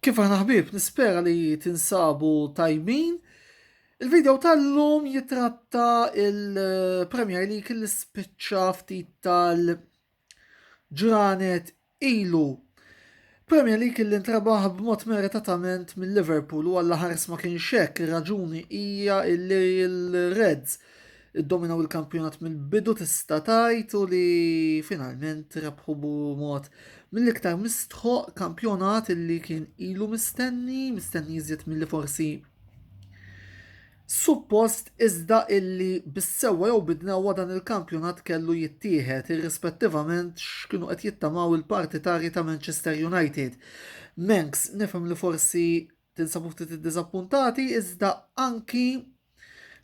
Kif aħna ħbieb, nispera li tinsabu tajbin. Il-video tal-lum jitratta il-Premier League li spiċċa ftit tal-ġranet ilu. Premier League li ntrabaħ b'mod meritatament mill-Liverpool u għall ħars ma kienx hekk, ir-raġuni hija li l-Reds iddominaw il-kampjonat mill-bidu tista' tgħid u li finalment rebħu mod mill-iktar mistħoq kampjonat illi kien ilu mistenni, mistenni iżjed milli forsi suppost iżda illi bis-sewwa jew bidnewwa dan il-kampjonat kellu jittieħed irrispettivament x'kienu qed jittamaw il-partitarji ta' Manchester United. Menks nifhem li forsi Tinsabu ftit iddiżappuntati iżda anki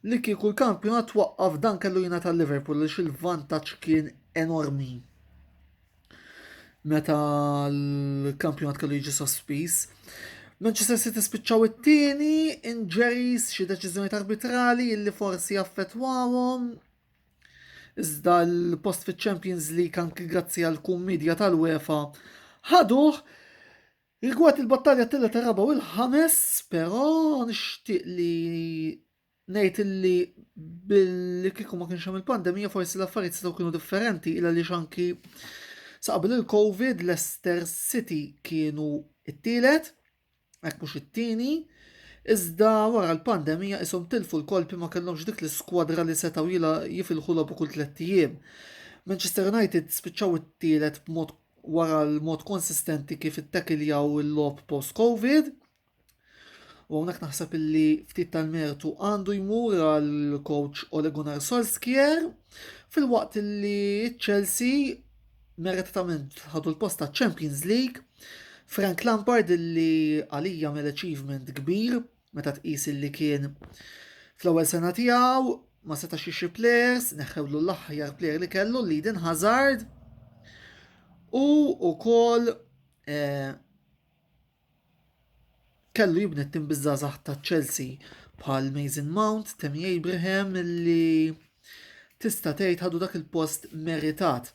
li kieku l-kampjonat twaqqaf dan kellu jina tal-Liverpool li il-vantaġġ kien enormi. Meta l-kampjonat kellu jiġi sospiż. Manchester City spiċċaw it-tieni, injuries, xi deċiżjoni arbitrali illi forsi affettwawhom. Iżda l-post fiċ-Champions League anki grazzi għal kum media tal-UEFA ħaduh Rigward il-battalja t-tielet, ir-raba' u l-ħames, però nixtieq li ngħid illi billi kieku ma kienx hemm il-pandemija forsi l-affarijiet setgħu kienu differenti il għaliex anki sa qabel il-COVID Leicester City kienu it-tielet, hekk mhux it-tieni, iżda wara l-pandemija ishom tilfu l-kolpi ma kellhomx dik l-iskwadra li setgħu jifilħu logħbu kull tlett ijiem. Manchester United spiċċaw it-tielet b'mod wara l-mod konsistenti kif ittakiljaw il-logħob post-Covid. U hawnhekk naħseb illi ftit tal-mertu għandu jmur għal coach Ole Gunnar Solskjaer fil-waqt illi Chelsea meritatament ħadu l-post ta' Champions League. Frank Lampard illi għalija mill-achievement kbir meta tqis li kien fl-ewwel sena tiegħu ma setax jixri players, neħħewlu l-aħjar player li kellu li din Hazard u wkoll eh, kellu jibni tim bizzazax ta' Chelsea bħal Mason Mount, Temi Abraham li Tista' tgħid ħadu dak il-post meritat.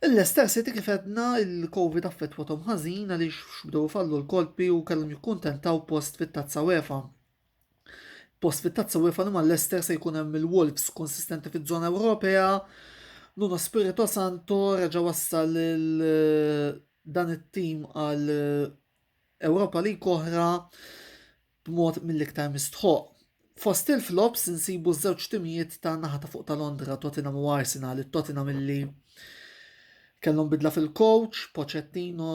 Il-Leicester City kif edna il-Covid affettwathom ħażin għaliex x'bdew ifallu l-kolpi u kellhom jikkuntentaw post fit-Tazza UEFA. Post fit-Tazza UEFA li mal-Leicester se jkun hemm il-Wolves konsistenti fiż-żona Ewropea. Nuno Spirito Santo reġa' wassal dan it-tim għal Europa League oħra b'mod mill-iktar mistħoqq. Fost il-flops insibu ż-żewġ timijiet ta' naħa ta' fuq ta' Londra, Tottenham u Arsenal, it-Tottenham illi kellhom bidla fil-coach, Pochettino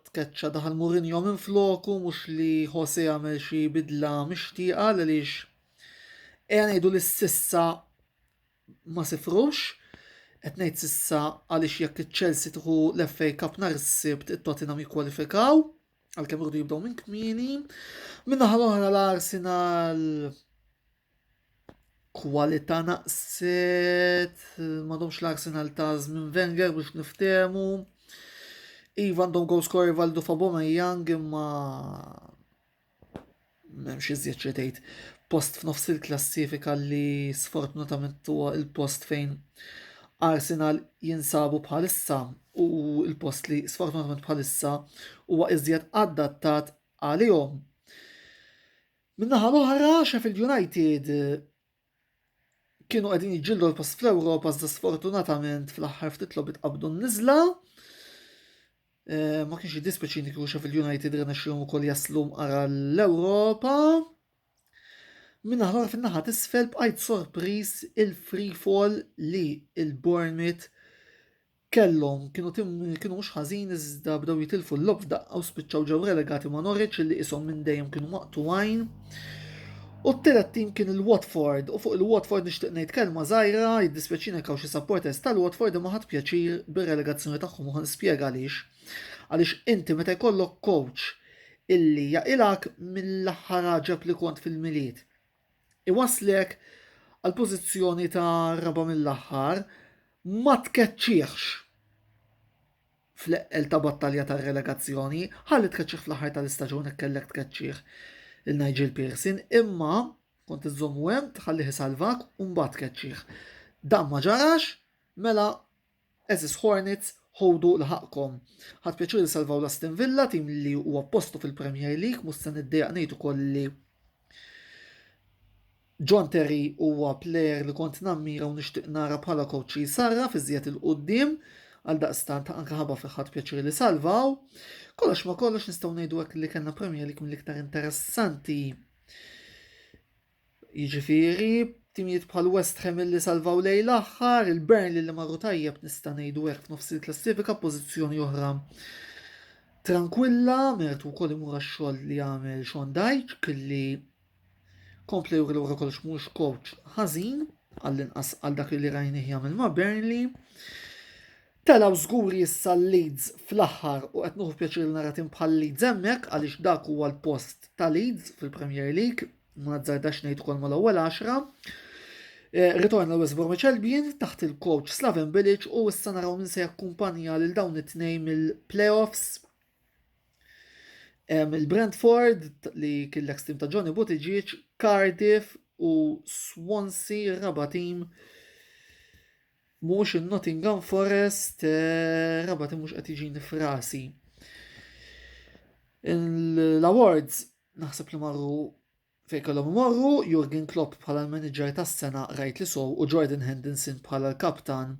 tkeċċa daħal Mourinho minn floku mhux li Jose għamel xi bidla mixtieqa għaliex ejja ngħidu li sissa ma sifrux qed ngħid sissa għaliex jekk iċ-Chelsea tieħu l-FA Cup nhar is-Sibt it-Tottenham jikkwalifikaw. Għalkemm irdu jibdew minn kmieni, min-naħa l-oħra l-Arsenal kwalità naqset, m'għadhomx l-Arsenal ta' żmien Wenger biex niftehmu. Iva għandhom goal scorer Valdo Faboma Young imma M'hemmx iżjed xi tgħid. Post f'nofs il-klassifika li sfortunatament huwa il-post fejn Arsenal jinsabu bħalissa u il-post li sfortunatament bħalissa huwa iżjed adattat għalihom. Minnaħa l-oħra, Sheffield United kienu qegħdin jiġġieldu l-post fl-Ewropa iżda sfortunatament fl-aħħar ftit logħbiet qabdu n-niżla. Eh, ma kienx jiddispeċini kieku Sheffield United rnexxihom ukoll jaslu mqara l-Ewropa. Minna ħlor fin-naħa tisfel bqajt sorpriż il-free fall li il-Bournemouth Kellhom, kienu tim li kienu mhux ħażin iżda bdew jitilfu l-logħob f'daqqa u spiċċaw ġew relegati ma' Norwich li qishom minn dejjem kienu maqtugħin. U t-tielet tim kien il-Watford u fuq il-Watford nixtieq ngħid kelma żgħira, jiddispjaċini jekk hawn xi supporters tal-Watford imma ħadt pjaċir bir-relegazzjoni tagħhom u ħa nispjega għaliex. Għaliex inti meta jkollok coach illi jaqilgħek mill-aħħar għaġeb li kont fil-Milied, iwasslek għall-pożizzjoni ta' raba' mill-aħħar, ma tkeċċihx fl-eqqel ta' battalja tar-relegazzjoni, ħalli tkeċċih fl-aħħar tal-istaġun hekk kellek tkeċċih il-Nigel Pearson, imma kont iżommu hemm tħallih isalvak u mbagħad tkeċċih. Dan ma ġarax, mela Għeżież Hornets, ħudu l ħaqqkom. Ħadt pjaċir li salvaw l Aston Villa, tim li huwa postu fil Premier League, mhux se niddejjaq ngħid ukoll li John Terry huwa plejer li kont nammira u nixtieq nara bħala coach li jsarraf iżjed il-qudiem għal daqstant anke ħabba fi ħadd pjaċir li salvaw. Kollox ma kollox nistgħu ngħidu hekk li kellna Premier League mill-iktar interessanti Jiġifieri, timijiet bħal West Ham illi salvaw lejl aħħar, il-Burnley li marru tajjeb nista' ngħidu hekk f'nofs il-klassifika pożizzjoni oħra tranquilla, mertu wkoll imur għax-xogħol li għamel Sean Dyche kelli kompla juri l-ura kollox mhux coach ħażin għall-inqas għal dak li rajni jagħmel ma' Burnley. Telaw żgur issa Leeds fl-aħħar u qed nuħu pjaċir nara tim bħal Leeds hemmhekk għaliex dak huwa l-post ta' Leeds fil-Premier League ma nazzardax ngħid ukoll mal-ewwel 10. Eh, ritorna West Bromwich Albion taħt il-coach Slaven Bilic u issa naraw min se jakkumpanja lil dawn it-tnejn mill-playoffs. Il-Brentford li kien l-ex team ta' Johnny Buttigieg, Cardiff u Swansea raba team mhux in-Nottingham Forest eh, raba team mhux qed jiġini frasi. L-awards Naħseb li marru fejn kellhom imorru, Jurgen Klopp bħala l-manager tas-sena rajt li sow u Jordan Henderson bħala l-kaptan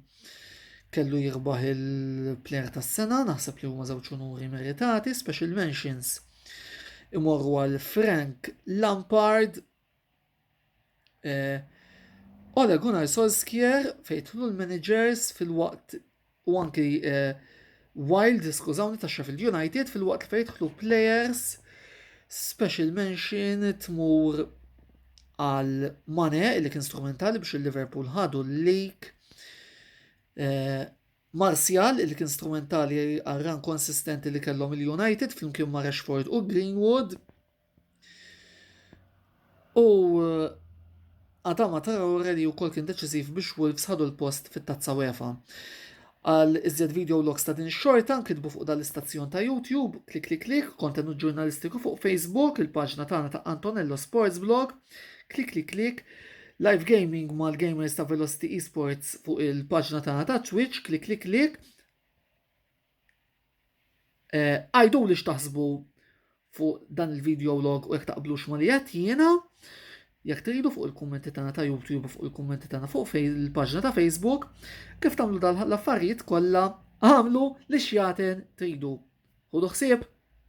kellu jirbaħ il-player tas-sena, naħseb li huma żewġ unuri meritati, special mentions imorru għal Frank Lampard Eh, Ole Gunnar Solskjaer fejtlu l-managers fil-waqt u anki eh, Wild, skużawni, ta' Sheffield United fil-waqt li fejtlu players special mention tmur għal Mane li kien strumentali biex il-Liverpool ħadu l-lik. Eh, Martial li kien strumentali għal ran konsistenti li kellhom il-United flimkien ma' Rashford u Greenwood. U Adama Traore li wkoll kien deċiżiv biex Wolves ħadu l-post fit-Tazza UEFA. Għal iżjed video logs ta' din xorta nkitbu fuq dal-istazzjon ta' YouTube, klik klik klik, kontenut ġurnalistiku fuq Facebook, il-paġna tagħna ta' Antonello Sports Blog, klik klik klik, live gaming mal-gamers ta' Velocity Esports fuq il-paġna tagħna ta' Twitch, klik klik klik, Eh, għajdu li xtaħsbu fuq dan il-video log u jek taqblux ma li jett jiena, jek tridu fuq il-kommenti tana ta' YouTube u fuq il-kommenti tana fuq il-pagġna ta' Facebook, kif tamlu dal-affarijiet kolla, għamlu li xjaten tridu. Hudu xsib?